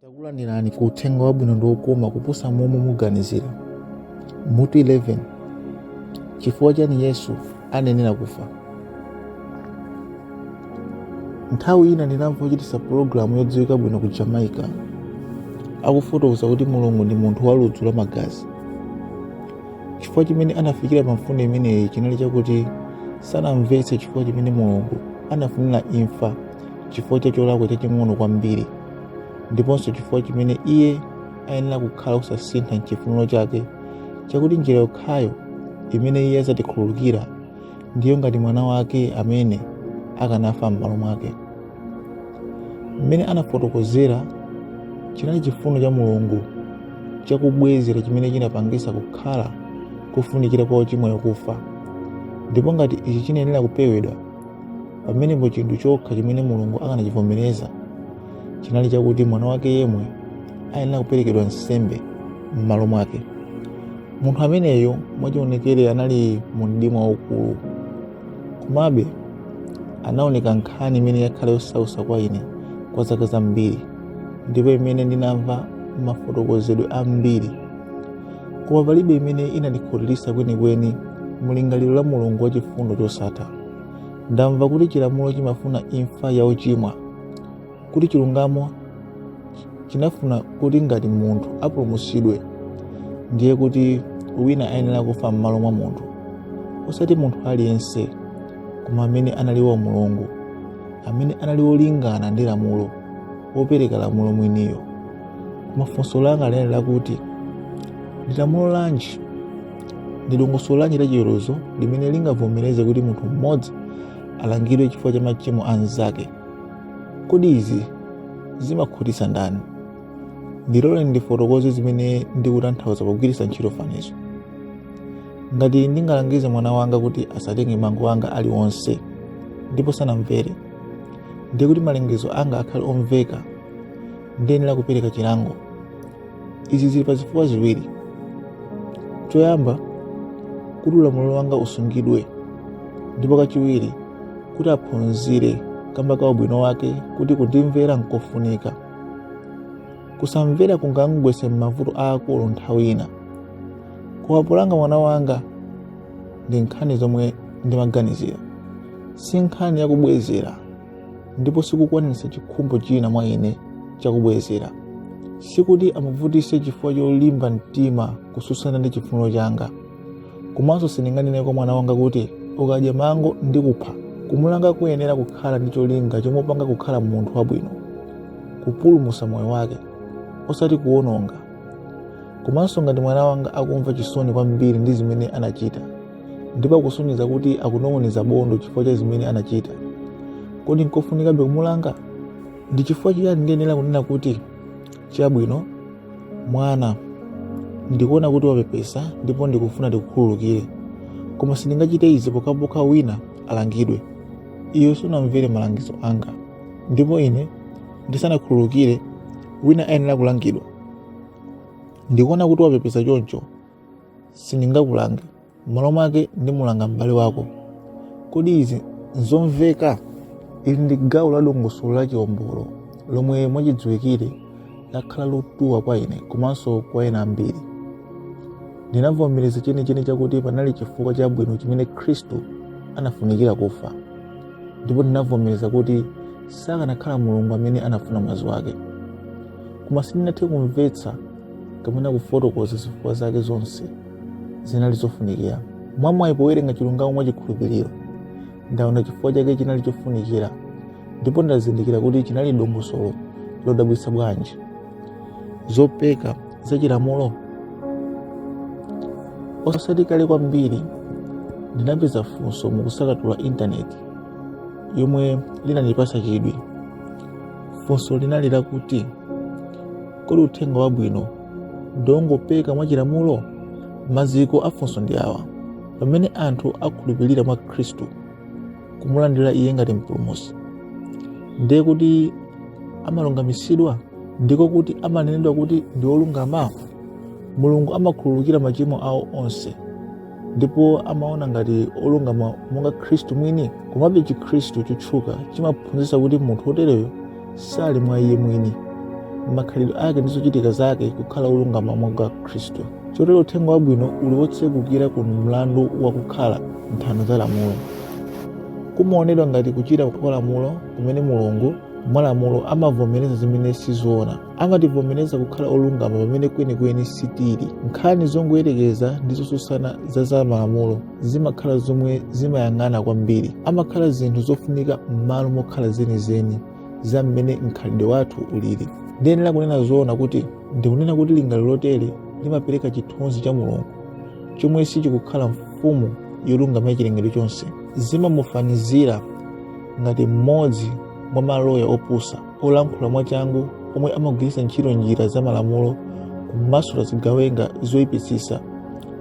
takulandirani ku uthenga wabwino ndi wokoma kuposa momwe muganizira mutu 11 chifukwa chani yesu anayenera kufa nthawi ina ndinamva ochitisa pulogalamu yodziwika bwino ku jamaica akufotokoza kuti mulungu ndi munthu wa ludzu la magazi chifukwa chimene anafikira pa mfundo imeneyi chinali chakuti sanamvetse chifukwa chimene mulungu anafunira imfa chifukwa cha cholakwa chaching'ono kwambiri ndiponso chifukwa chimene iye ayenera kukhala osasintha m'chifuniro chake chakuti njira yokhayo imene iye adzatikhululukira ndiyo ngati mwana wake amene akanafa m'malo mwake mmene anafotokozera chinali chifuniro cha mulungu chakubwezera chimene chinapangisa kukhala kufunikira kwa ochimwayo kufa ndipo ngati ichi chinayenera kupewedwa pamenepo chinthu chokha chimene mulungu akanachivomereza chinali chakuti mwana wake yemwe ayenera kuperekedwa nsembe m'malo mwake munthu ameneyo mwachionekere anali mu mdima waukulu komabe anaoneka nkhani imene yakhala yosausa kwa ine kwa zaka zambiri ndipo imene ndinamva mafotokozedwe ambiri koma palibe imene inandikhutiritsa kwenikweni mulingaliro la mulungu wachifundo chosatha ndamva kuti chilamulo chimafuna imfa ya ochimwa kuti chilungamo chinafuna kuti ngati munthu apulumutsidwe ndiye kuti wina ayenera kufa m'malo mwa munthu osati munthu aliyense koma amene anali wa mulungu amene anali wolingana ndi lamulo wopereka lamulo mwiniyo koma funso langa linali lakuti ndi lamulo lanji ndi dongosolo lanji la chiweruzo limene lingavomereze kuti munthu mmodzi alangidwe chifukwa cha machimo a mnzake. Kodi izi zimakhutitsa ndani? Ndiloleni ndifotokoze zimene ndikutanthauza pogwiritsa ntchito fanizo. Ngati ndingalangize mwana wanga kuti asatenge mango anga aliwonse ndipo sanamvere, ndiye kuti malangizo anga akhale omveka, ndiyenera kupereka chilango. izi zili pa zifukwa ziwiri choyamba kuti ulamuliro wanga usungidwe ndipo kachiwiri kuti aphunzire kamba ka ubwino wake kuti kundimvera nkofunika kusamvera kungamgwetse m'mavuto aakulu nthawi ina koma polanga mwana wanga ndi nkhani zomwe ndimaganizira si nkhani yakubwezera ndipo sikukwaniritsa chikhumbo china mwa ine chakubwezera sikuti amuvutise chifukwa cholimba mtima kutsutsana ndi chifuniro changa komanso sindinganene kwa mwana wanga kuti ukadya mango ndi kupha kumulanga kuyenera kukhala ndi cholinga chomupanga kukhala munthu wabwino kupulumusa moyo wake osati kuwononga komanso ngati mwana wanga akumva chisoni kwambiri ndi zimene anachita ndipo akusonyeza kuti akunong'oneza bondo chifukwa cha zimene anachita kodi nkofunikabe kumulanga ndi chifukwa chiyani ndiyenera kunena kuti chabwino mwana ndikuona kuti wapepesa ndipo ndikufuna ndikukhululukire koma sindingachite izi pokhapokha wina alangidwe iwe sunamvere malangizo anga ndipo ine ndisanakhululukire wina ayenera kulangidwa ndikuona kuti wapepesa choncho sindingakulange m'malo mwake ndimulanga m'bale wako kodi izi nzomveka ili ndi gawo la dongosolo la chiombolo lomwe mwachidziwikire lakhala lotuwa kwa ine komanso kwa ena ambiri ndinavomereza chenicheni chakuti panali chifukwa chabwino chimene khristu anafunikira kufa ndipo ndinavomereza kuti sakanakhala mulungu amene anafuna mwazi wake koma sindinathe kumvetsa kapena kufotokoza zifukwa zake zonse zinali zofunikira mwamwayi powerenga chilungamo mwa chikhulupiriro ndaona chifukwa chake chinali chofunikira ndipo ndazindikira kuti chinali dongosolo lodabwitsa bwanji zopeka za chilamulo osati kale kwambiri ndinapeza funso mukusakatula intaneti yomwe linandipatsa chidwi funso linali lakuti kodi uthenga wabwino ndiwongopeka mwachilamulo maziko afunso ndi awa pamene anthu akhulupirira mwa khristu kumulandira iye ngati mpulumusi ndiye kuti amalungamitsidwa ndiko kuti amanenedwa kuti ndi olungama mulungu amakhululukira machimo awo onse ndipo amawaona ngati olungama monga khristu mwini komabe chikhristu chotchuka chimaphunzitsa kuti munthu wotereyo sali mwa iye mwini makhalidwe ake ndi zochitika zake kukhala olungama monga khristu chotero uthenga wabwino uli wotsegukira ku mlandu wa kukhala nthano za lamulo kumaonedwa ngati kuchita kwa lamulo kumene mulungu mwalamulo amavomereza zimene sizoona amativomereza kukhala olungama pamene kwenikweni sitili nkhani zongoyerekeza ndi zotsutsana za za malamulo zimakhala zomwe zimayang'ana kwambiri amakhala zinthu zofunika m'malo mokhala zenizeni za mmene mkhalidwe wathu ulili ndiyenera kunena zoona kuti ndikunena kuti lingaliro lotere limapereka chithunzi cha mulungu chomwe sichikukhala mfumu yolungama ya chilengedwe chonse zimamufanizira ngati mmodzi mwa maloya opusa olankhula mwachangu omwe amagwiritsa ntchito njira za malamulo kumasula zigawenga zoyipitsitsa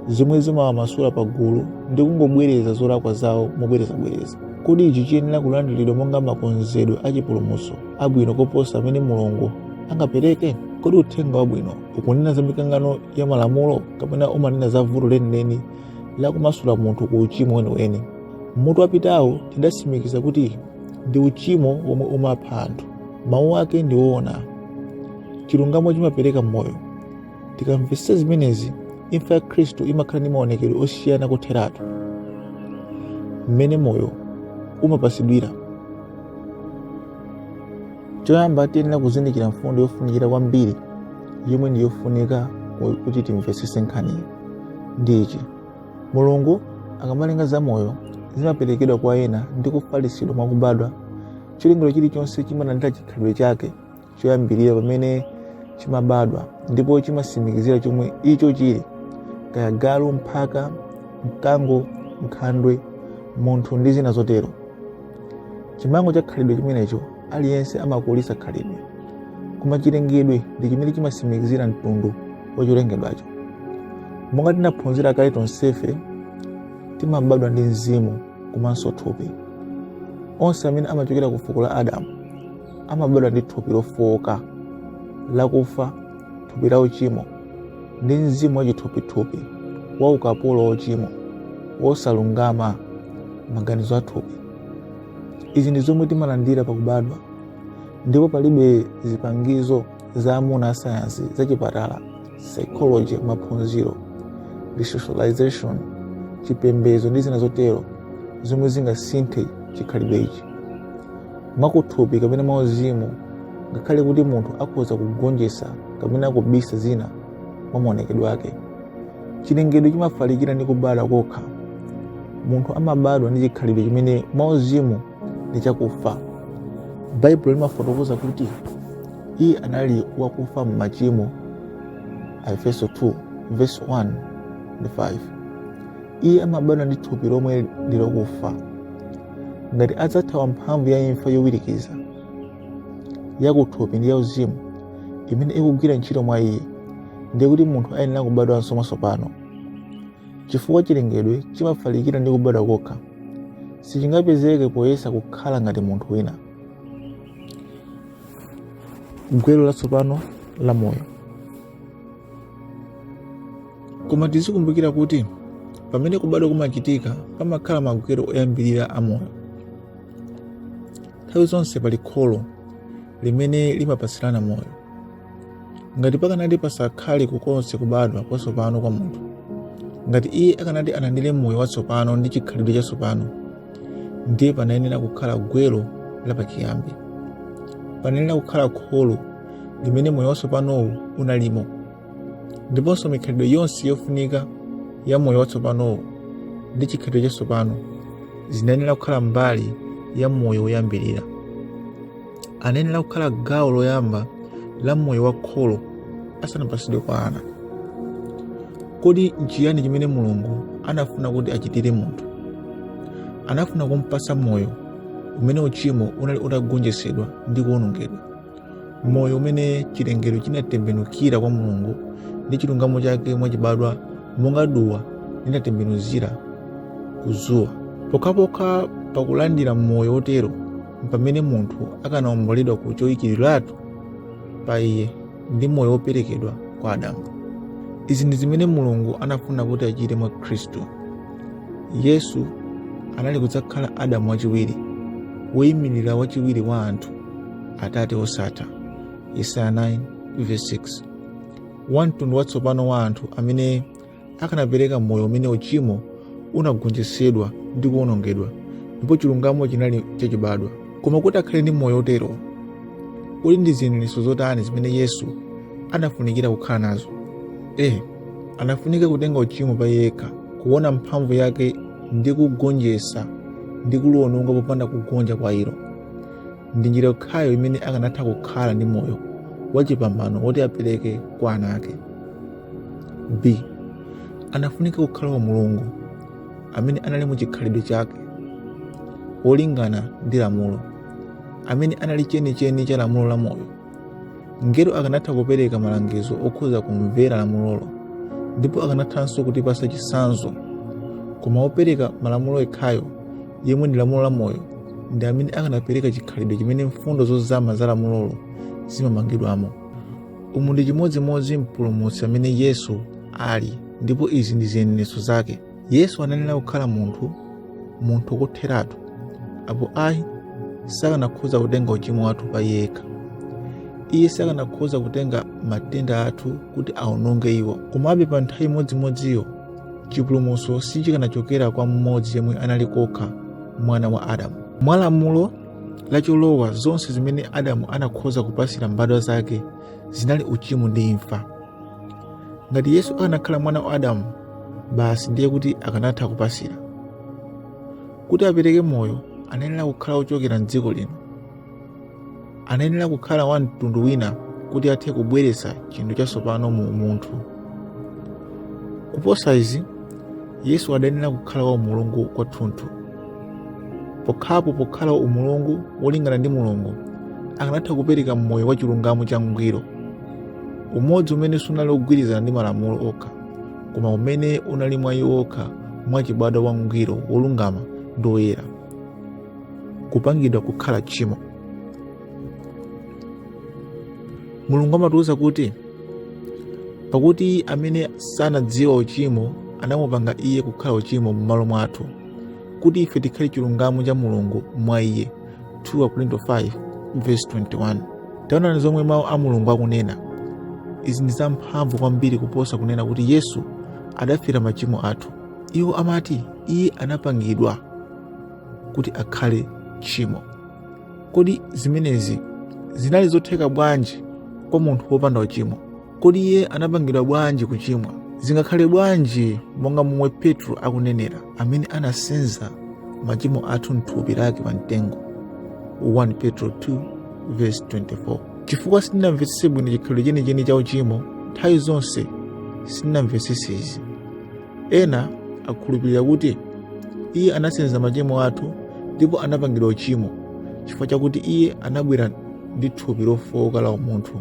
zomwe zimawamasula pa gulu ndi kungobwereza zolakwa zawo mobwerezabwereza kodi ichi chiyenera kulandiridwa monga makonzedwe a chipulumutso abwino koposa amene mulungu angapereke kodi uthenga wabwino ukunena za mikangano ya malamulo kapena umanena za vuto lenileni lakumasula munthu ku uchimo weniweni m'mutu wapitawo tidatsimikiza kuti ndi uchimo womwe umapha anthu mawu ake ndi oona chilungamo chimapereka moyo tikamvetsa zimenezi imfa ya khristu imakhala ndi maonekedwe osiyana kotheratu mmene moyo umapatsidwira choyamba tiyenera kuzindikira mfundo yofunikira kwambiri yomwe ndi yofunika kuti timvetsetse nkhaniyi ndi ichi Mulungu akamalenga zamoyo zimaperekedwa kwa ena ndi kufalitsidwa mwa kubadwa. Chilengedwe chilichonse chimalandira chikhalidwe chake choyambirira pamene chimabadwa ndipo chimatsimikizira chomwe icho chili, kaya galu, mphaka, mkango, nkhandwe, munthu ndi zina zotero. chimango cha khalidwe chimenecho aliyense amakulitsa khalidwe koma chilengedwe ndi chimene chimatsimikizira mtundu wa cholengedwacho monga tinaphunzira kale tonsefe timabadwa ndi mzimu komanso thupi onse amene amachokera ku fuko la adamu amabadwa ndi thupi lofowoka lakufa thupi la uchimo ndi mzimu wachithupithupi wa ukapolo wa uchimo wosalungama maganizo a thupi izi ndi zomwe timalandira pakubadwa ndipo palibe zipangizo za amuna asayansi za chipatala psychology maphunziro resocialization chipembedzo ndi zina zotero zomwe zingasinthe chikhalidwe ichi mwakuthupi kapena mwauzimu ngakhale kuti munthu akhoza kugonjetsa kapena kubisa zina mwa maonekedwe ake chilengedwe chimafalikira ndi kubala kokha munthu amabadwa ndi chikhalidwe chimene mwauzimu ndi chakufa baibulo limafotokoza kuti iye anali wakufa m'machimo aefeso 2 verse 1 ndi 5 iye amabadwa ndi thupi lomwe ndi lokufa ngati adzathawa mphamvu ya imfa yowirikiza yakuthupi ndi yauzimu imene ikugwira ntchito mwa iye ndiye kuti munthu ayenera kubadwanso mwatsopano chifukwa chilengedwe chimafalikira ndi kubadwa kokha sichingapezeke poyesa kukhala ngati munthu wina gwero latsopano la moyo koma tizikumbukira kuti pamene kubadwa kumachitika pamakhala magwero oyambirira a moyo nthawi zonse pali kholo limene limapatsirana moyo ngati pakanati pasakhale konse kubadwa kwatsopano kwa munthu ngati iye akanati alandire moyo watsopano ndi chikhalidwe chatsopano ndiye panayenera kukhala gwero lapachiyambi panayenera kukhala kholo limene moyo watsopanowu unalimo ndiponso mikhalidwe yonse yofunika ya moyo watsopanowu ndi chikhalidwe chatsopano zinayenera kukhala mbali ya moyo woyambirira anayenera kukhala gawo loyamba la moyo wa kholo asanapatsidwe kwa ana kodi nchiyani chimene mulungu anafuna kuti achitire munthu anafuna kumpatsa moyo umene uchimo unali utagonjetsedwa ndi kuwonongedwa moyo umene chilengedwe chinatembenukira kwa mulungu ndi chilungamo chake mwachibadwa monga duwa limatembenukira ku dzuwa pokhapokha pakulandira moyo wotero mpamene munthu akanaomboledwa ku choyikidwiratu pa iye ndi moyo woperekedwa kwa adamu izi ndi zimene mulungu anafuna kuti achite mwa khristu yesu anali kudzakhala adamu wachiwiri woyimirira wachiwiri wa anthu atate osatha yesaya 9 verse 6 wa mtundu watsopano wa anthu amene akanapereka moyo umene uchimo unagonjetsedwa ndi kuwonongedwa ndipo chilungamo chinali chachibadwa koma kuti akhale ndi moyo otero kodi ndi ziyeneretso zotani zimene yesu anafunikira kukhala nazo a anafunika kutenga uchimo pa yekha kuona mphamvu yake ndi kugonjetsa ndi kuliwononga popanda kugonja kwa ilo ndi njira yokhayo imene akanatha kukhala ndi moyo wachipambano woti apereke kwa ana ake b anafunika kukhala wa mulungu amene anali mu chikhalidwe chake wolingana ndi lamulo amene anali chenicheni cha lamulo la moyo Mngelo akanatha kupereka malangizo okhuza kumvera lamulolo ndipo akanathanso kutipasa chisanzo koma wopereka malamulo yekhayo yemwe ndi lamulo la moyo ndi amene akanapereka chikhalidwe chimene mfundo zozama za lamulolo zimamangidwamo umu ndi chimodzimodzi mpulumutsi amene yesu ali ndipo izi ndi ziyeneretso zake yesu anayenera kukhala munthu munthu kotheratu apo ayi sakanakhoza kutenga uchimo wathu pa iye yekha iye sakanakhoza kutenga matenda athu kuti aononge iwo komabe pa nthawi imodzimodziyo chipulumutso sichikanachokera kwa mmodzi yemwe anali kokha mwana wa adamu mwa lamulo lacholowa zonse zimene adamu anakhoza kupasira mbadwa zake zinali uchimo ndi imfa ngati yesu akanakhala mwana wa adamu basi ndiye kuti akanatha kupasira kuti apereke moyo anayenera kukhala ochokera mdziko lino anayenera kukhala wa mtundu wina kuti athe kubweretsa chinthu chatsopano mu umunthu kuposa izi yesu anayenera kukhala wa umulungu kwathunthu pokhapo pokhala mulungu wolingana ndi mulungu akanatha kupereka moyo wa chilungamo cha ngwiro umodzi umene sunali ogwirizana ndi malamulo okha koma umene unali mwa iwo wokha mwachibadwa wangwiro wolungama ndi woyera kupangidwa kukhala tchimo mulungu amatiwuza kuti pakuti amene sanadziwa uchimo anamupanga iye kukhala uchimo m'malo mwathu kuti ife tikhale chilungamo cha mulungu mwa iye 2 Akorinto 5 verse 21 taonani zomwe mawu a mulungu akunena izi ndi zamphamvu kwambiri kuposa kunena kuti yesu adafera machimo athu iwo amati iye anapangidwa kuti akhale tchimo kodi zimenezi zinali zotheka bwanji kwa munthu wopanda uchimo kodi iye anapangidwa bwanji kuchimwa zingakhale bwanji monga momwe petro akunenera amene anasenza machimo athu mthupi lake pa mtengo 1 petro 2 verse 24 chifukwa sitinamvetsetse bwino chikhalidwe chenicheni cha uchimo nthawi zonse sitinamvetsetse izi ena akhulupirira kuti iye anasenza machimo athu ndipo anapangidwa uchimo chifukwa chakuti iye anabwera ndi thupi lofooka la umunthu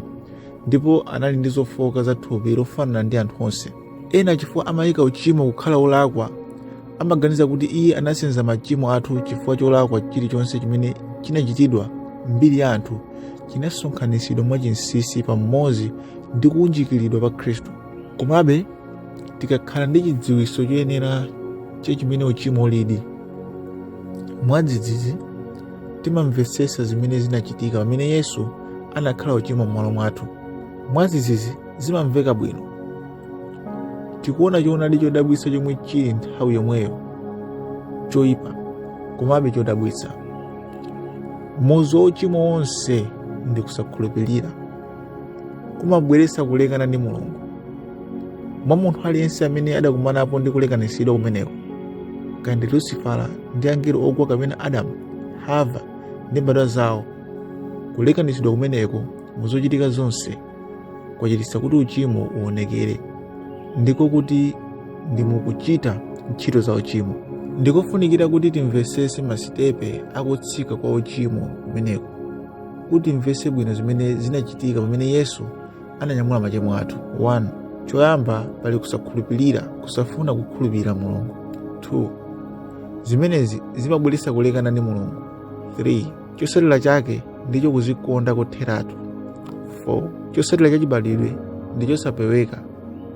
ndipo anali ndi zofooka za thupi lofanana ndi anthu onse ena chifukwa amayika uchimo kukhala wolakwa amaganiza kuti iye anasenza machimo athu chifukwa cholakwa chilichonse chimene chinachitidwa mbiri ya anthu chinasonkhanitsidwa mwachinsinsi pamodzi ndi kuunjikiridwa pa khristu komabe tikakhala ndi chidziwitso choyenera cha chimene uchimo ulidi mwadzidzidzi timamvetsetsa zimene zinachitika pamene yesu anakhala uchimo m'malo mwathu mwazizizi zimamveka bwino tikuona choonadi chodabwitsa chomwe chili nthawi yomweyo choyipa komabe chodabwitsa muzu wa uchimo wonse ndi kusakhulupirira kumabweretsa kulekana ndi mulungu mwa munthu aliyense amene adakumanapo ndi kulekanitsidwa kumeneko kaya ndi lusifala ndi angelo ogwa kapena adamu hava ndi mbadwa zawo kulekanitsidwa kumeneko mu zochitika zonse kwachititsa kuti uchimo uonekere ndiko kuti ndi mukuchita ntchito za uchimo ndikofunikira kuti timvesese masitepe akutsika kwa uchimo kumeneko kuti timvese bwino zimene zinachitika pamene yesu ananyamula machimo athu 1 choyamba pali kusakhulupirira kusafuna kukhulupirira mulungu 2 zimenezi zimabweretsa kulekana ndi mulungu 3 chosatira chake ndicho kuzikonda kotheratu 4 chosatira chachibadwidwe ndi chosapeweka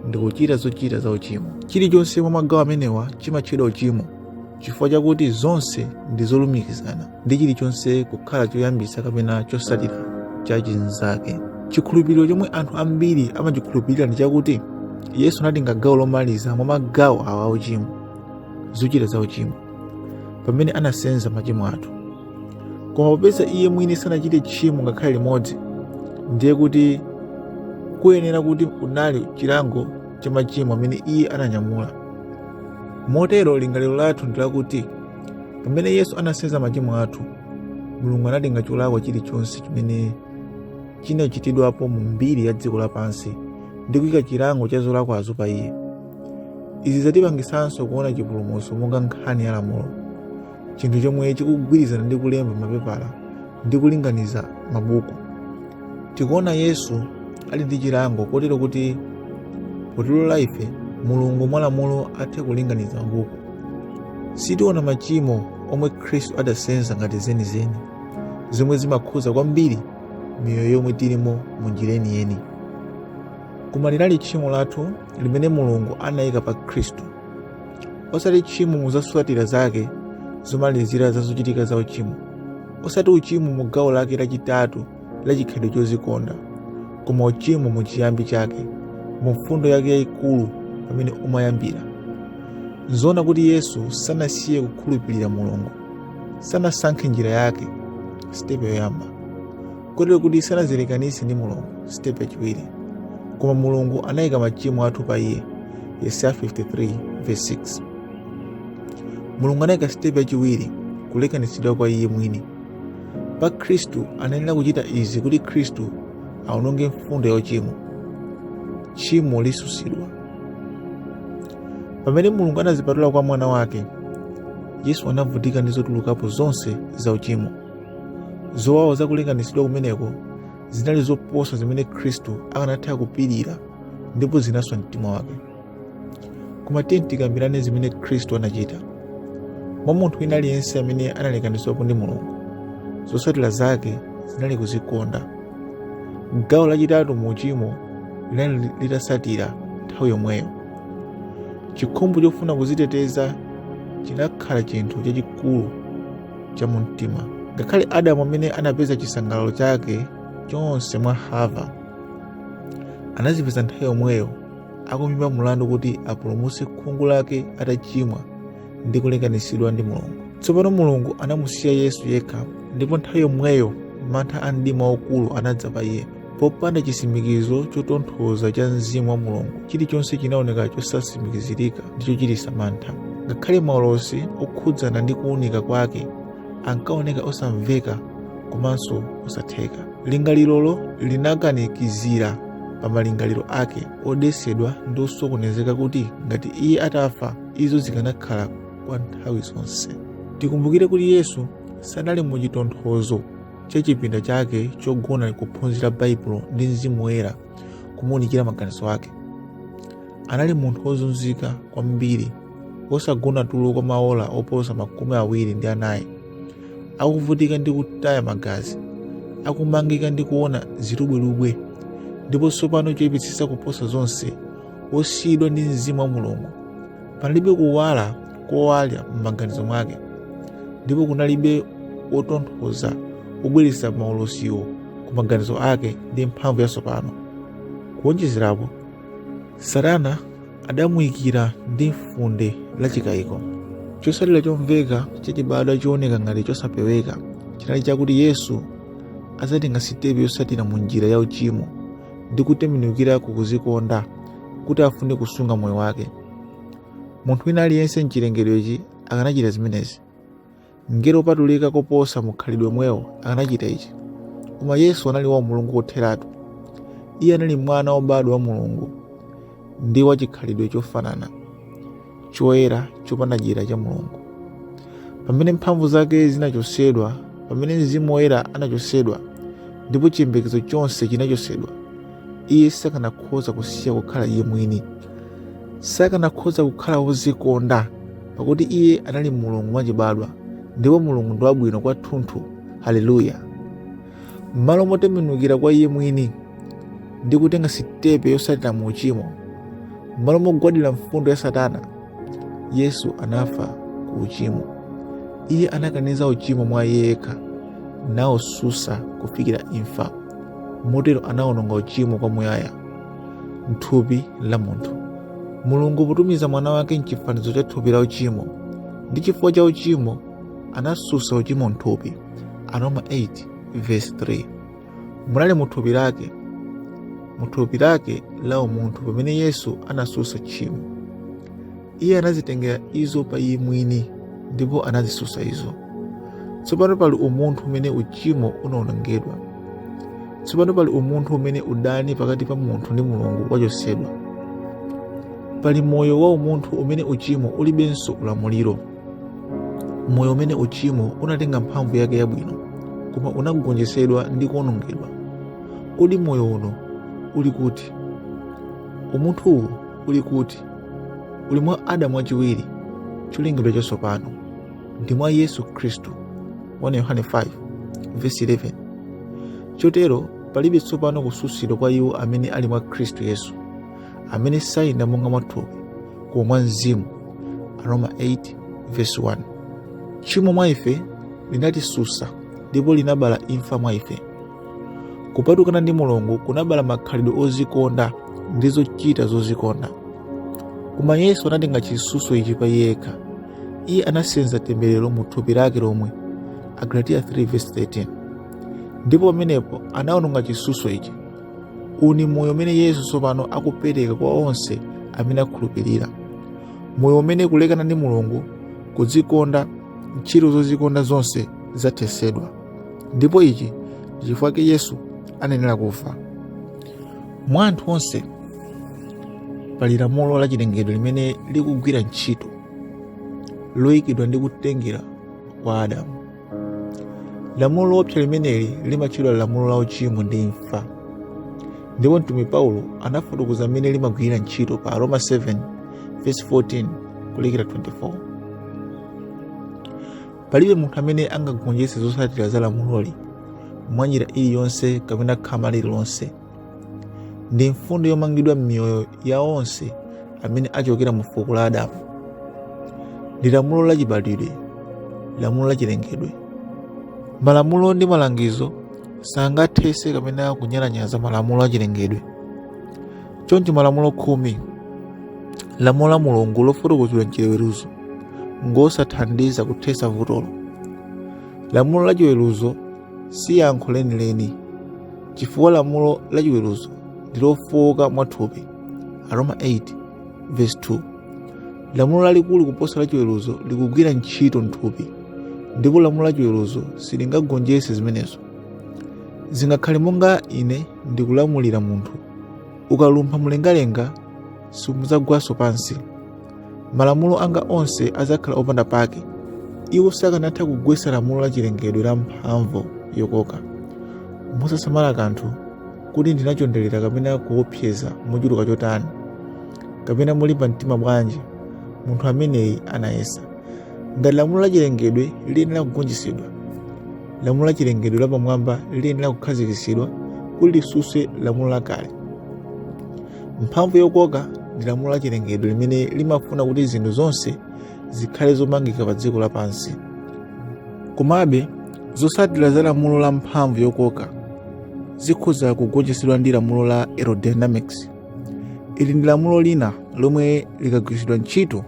ndi kuchita zochita za uchimo chilichonse mwa magawo amenewa chimatchedwa uchimo chifukwa chakuti zonse ndi zolumikizana ndi chilichonse kukhala choyambitsa kapena chosatira cha chinzake chikhulupiriro chomwe anthu ambiri amachikhulupirira ndi chakuti yesu anatenga gawo lomaliza mwa magawo awa auchimo zochita za uchimo pamene anasenza machimo athu koma popeza iye mwini sanachite tchimo ngakhale limodzi ndiye kuti kuyenera kuti kunali chilango cha machimo amene iye ananyamula motero lingaliro lathu ndi lakuti pamene yesu anasenza machimo athu mulungu anatenga cholakwa chilichonse chimene chinachitidwapo mu mbiri ya dziko lapansi ndi kuyika chilango cha zolakwazo pa iye izi zatipangisanso kuona chipulumutso monga nkhani ya lamulo chinthu chomwe chikugwirizana ndi kulemba mapepala ndi kulinganiza mabuku tikuona yesu ali ndi chilango kotero kuti potilowa ife mulungu mwa lamulo athe kulinganiza mabuku sitiona machimo omwe khristu adasenza ngati zenizeni zomwe zimakhuza kwambiri miyoyo yomwe tilimo mu njira yeniyeni koma linali tchimo lathu limene mulungu anayika pa khristu osati tchimo mu zosatira zake zomalizira za zochitika za uchimo osati uchimo mu gawo lake lachitatu la chikhalidwe chozikonda koma uchimo mu chiyambi chake mu mfundo yake yayikulu pamene umayambira nzoona kuti yesu sanasiye kukhulupirira mulungu sanasankhe njira yake sitepe yoyamba kotero kuti sanazilekanitse ndi mulungu sitepe yachiwiri koma mulungu anayika machimo athu pa iye yesaya 53 verse 6 mulungu anayika sitepe yachiwiri kulekanitsidwa kwa iye mwini pa khristu anayenera kuchita izi kuti khristu aononge mfundo ya uchimo tchimo litsutsidwa pamene mulungu anazipatula kwa mwana wake yesu anavutika ndi zotulukapo zonse za uchimo zowawa za kulekanitsidwa kumeneko zinali zoposa zimene khristu akanatha kupirira ndipo zinaswa mtima wake koma tiyeni tikambirane zimene khristu anachita mwa munthu wina aliyense amene analekanitsidwapo ndi mulungu zotsatira zake zinali kuzikonda gawo lachitatu mu uchimo linali litatsatira nthawi yomweyo chikhumbo chofuna kuziteteza chinakhala chinthu chachikulu cha mu mtima ngakhale adamu amene anapeza chisangalalo chake chonse mwa hava anazipeza nthawi yomweyo akumuimba mulandu kuti apulumutse khungu lake atachimwa ndi kulekanitsidwa ndi mulungu tsopano mulungu anamusiya yesu yekha ndipo nthawi yomweyo mantha a mdima waukulu anadza pa iye popanda chisimikizo chotonthoza cha mzimu wa mulungu chilichonse chinaoneka chosasimikizirika ndi chochitisa mantha ngakhale maulosi okhudzana ndi kuunika kwake ankaoneka osamveka komanso osatheka lingalirolo linakanikizira pa malingaliro ake odetsedwa ndi osokonezeka kuti ngati iye atafa izo zikanakhala kwa nthawi zonse tikumbukire kuti yesu sanali mu chitonthozo cha chipinda chake chogona kuphunzira baibulo ndi mzimu woyera kumuunikira maganizo ake anali munthu wozunzika kwambiri wosagona tulo kwa maola oposa makumi awiri ndi anayi akuvutika ndi kutaya magazi akumangika ndi kuona zilubwelubwe ndipo tsopano choyipitsitsa kuposa zonse wosiyidwa ndi mzimu wa mulungu panalibe kuwala kowala m'maganizo mwake ndipo kunalibe wotonthoza wobweretsa maulosiwo ku maganizo ake ndi mphamvu yatsopano kuwonjezerapo satana adamuyikira ndi funde la chikayiko chotsatira chomveka chachibadwa chooneka ngati chosapeweka chinali chakuti yesu adzatenga sitepe yotsatira mu njira ya uchimo ndi kutembenukira ku kuzikonda kuti afune kusunga moyo wake munthu wina aliyense mchilengedwechi akanachita zimenezi mngelo wopatulika koposa mukhalidwe womwewo akanachita ichi koma yesu anali wa mulungu kotheratu iye anali mwana wobadwa wa mulungu ndi wachikhalidwe chofanana choyera chopanda dyera cha mulungu pamene mphamvu zake zinachotsedwa pamene mzimu woyera anachotsedwa ndipo chiyembekezo chonse chinachotsedwa iye sakanakhoza kusiya kukhala iye mwini sakanakhoza kukhala wozikonda pakuti iye anali mulungu mwachibadwa ndipo mulungu ndi wabwino kwathunthu haleluya m'malo motembenukira kwa iye mwini ndi kutenga sitepe yotsatira mu uchimo m'malo mogwadira mfundo ya satana yesu anafa ku uchimo iye anakaniza uchimo mwa iye yekha nautsutsa kufikira imfa motero anaononga uchimo kwa muyaya mthupi la munthu mulungu potumiza mwana wake mchifanizo cha thupi la uchimo ndi chifukwa cha uchimo anatsutsa uchimo mthupi aroma 8 vesi 3 munali mu thupi lake mu thupi lake la umunthu pamene yesu anatsutsa tchimo iye anazitengera izo pa iye mwini ndipo anazitsutsa izo tsopano pali umunthu umene uchimo unaonongedwa tsopano pali umunthu umene udani pakati pa munthu ndi mulungu wachotsedwa pali moyo wa umunthu umene uchimo ulibenso ulamuliro moyo umene uchimo unatenga mphamvu yake yabwino koma unagonjetsedwa ndi kuonongedwa kodi moyo uno uli kuti umunthu uwu uli kuti uli mwa adamu wachiwiri cholengedwa chatsopano ndi mwa yesu khristu 1 yohane 5 vesi 11 chotero palibe tsopano kutsutsidwa kwa iwo amene ali mwa khristu yesu amene sayenda monga mwa thupi koma mwa mzimu aroma 8 verse 1 tchimo mwa ife linatitsutsa ndipo linabala imfa mwa ife kupatukana ndi mulungu kunabala makhalidwe ozikonda ndi zochita zozikonda koma yesu anatenga chitsutso ichi pa iye yekha iye anasenza temberero mu thupi lake lomwe agalatiya 3 verse 13 ndipo pamenepo anaononga chitsutso ichi uwu ni moyo umene yesu tsopano akupereka kwa onse amene akhulupirira moyo umene kulekana ndi mulungu kudzikonda ntchito zozikonda zonse zathetsedwa ndipo ichi ndi chifukwa chake yesu anayenera kufa mwa anthu onse pali lamulo la chilengedwe limene likugwira ntchito loyikidwa ndi kutengera kwa adamu lamulo loopsa limeneli limatchedwa lamulo la uchimo ndi imfa ndipo mtumwi paulo anafotokoza mmene limagwirira ntchito pa aroma 7 verse 14 kulekera 24 palibe munthu amene angagonjetse zotsatira za lamuloli mwanjira iliyonse kapena khama lililonse ndi mfundo yomangidwa m'miyoyo ya onse amene achokera mu fuko la adamu ndi lamulo la chibadwidwe lamulo la chilengedwe malamulo ndi malangizo sangathetse kapena kunyalanyaza malamulo a chilengedwe choncho malamulo khumi lamulo la mulungu lofotokozedwa mchiweruzo ngosathandiza kuthetsa vutolo lamulo la chiweruzo si yankho lenileni chifukwa lamulo la chiweruzo ndi lofowoka mwathupi aroma 8 verse 2 lamulo lalikulu kuposa la chiweruzo likugwira ntchito mthupi ndipo lamulo la chiweruzo silingagonjetse zimenezo zingakhale monga ine ndikulamulira munthu ukalumpha mlengalenga simudzagwanso pansi malamulo anga onse adzakhala opanda pake iwo sakanatha kugwetsa lamulo la chilengedwe la mphamvu yokoka mosasamala kanthu kuti ndinachonderera kapena kuopseza mochuluka chotani kapena molimba mtima bwanji munthu ameneyi anayesa ngati lamulo la chilengedwe liyenera kugonjetsedwa lamulo la chilengedwe lapamwamba liyenera kukhazikitsidwa kuti litsutse lamulo lakale mphamvu yokoka ndi lamulo la chilengedwe limene limafuna kuti zinthu zonse zikhale zomangika pa dziko lapansi komabe zotsatira za lamulo la mphamvu yokoka zikhoza kugonjetsedwa ndi lamulo la aerodynamics ili ndi lamulo lina lomwe likagwiritsidwa ntchito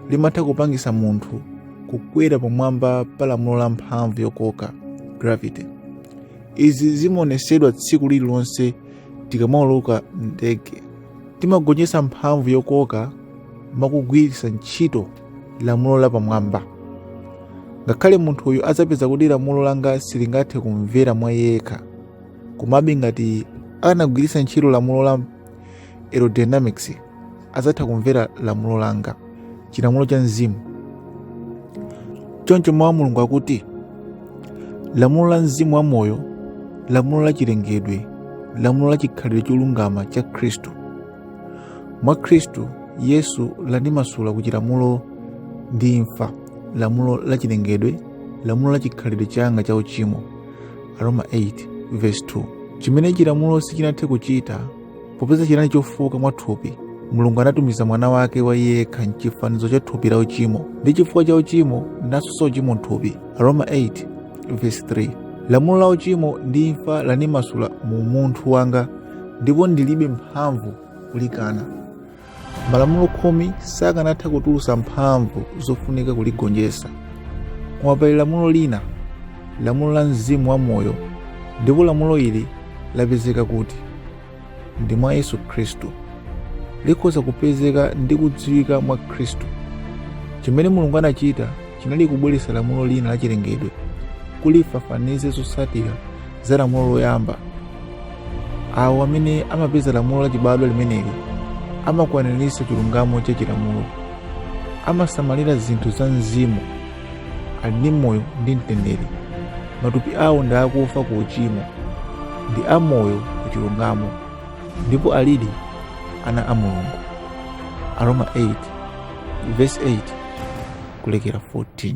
limatha kupangitsa munthu kukwera pamwamba pa lamulo la mphamvu yokoka gravity izi zimaonetsedwa tsiku lililonse Tikamauluka m'ndege, timagonjetsa mphamvu yokoka mwa kugwiritsa ntchito lamulo lapamwamba. Ngakhale munthuyu adzapeza kuti lamulo langa silingathe kumvera mwa iye yekha, komabe ngati akanagwiritsa ntchito lamulo la aerodynamics adzatha kumvera lamulo langa chilamulo cha mzimu choncho mawu a mulungu akuti lamulo la mzimu wa moyo lamulo la chilengedwe lamulo la chikhalidwe cholungama cha khristu mwa khristu yesu landimasula ku chilamulo ndi imfa lamulo la chilengedwe lamulo la chikhalidwe changa cha uchimo aroma 8 verse 2 chimene chilamulo sichinathe kuchita popeza chinali chofowoka mwa thupi mulungu anatumiza mwana wake wa iye yekha mchifanizo cha thupi la uchimo ndi chifukwa cha uchimo natsutsa uchimo mthupi aroma 8 verse 3 lamulo la uchimo ndi imfa landimasula mu umunthu wanga ndipo ndilibe mphamvu kulikana malamulo khumi sakanatha kutulusa mphamvu zofunika kuligonjesa koma pali lamulo lina lamulo la mzimu wa moyo ndipo lamulo ili lapezeka kuti ndi mwa yesu khristu likhoza kupezeka ndi kudziwika mwa khristu chimene mulungu anachita chinali kubweretsa lamulo lina la chilengedwe kuti lifafanize zotsatira za lamulo loyamba. Awo amene amapeza lamulo lachibadwa limeneli amakwaniritsa chilungamo cha chilamulo, amasamalira zinthu za mzimu, ali ndi moyo ndi mtendere. Matupi awo ndi akufa ku uchimo, ndi amoyo ku chilungamo, ndipo alidi ana a Mulungu. Aroma 8 verse 8 kulekera 14.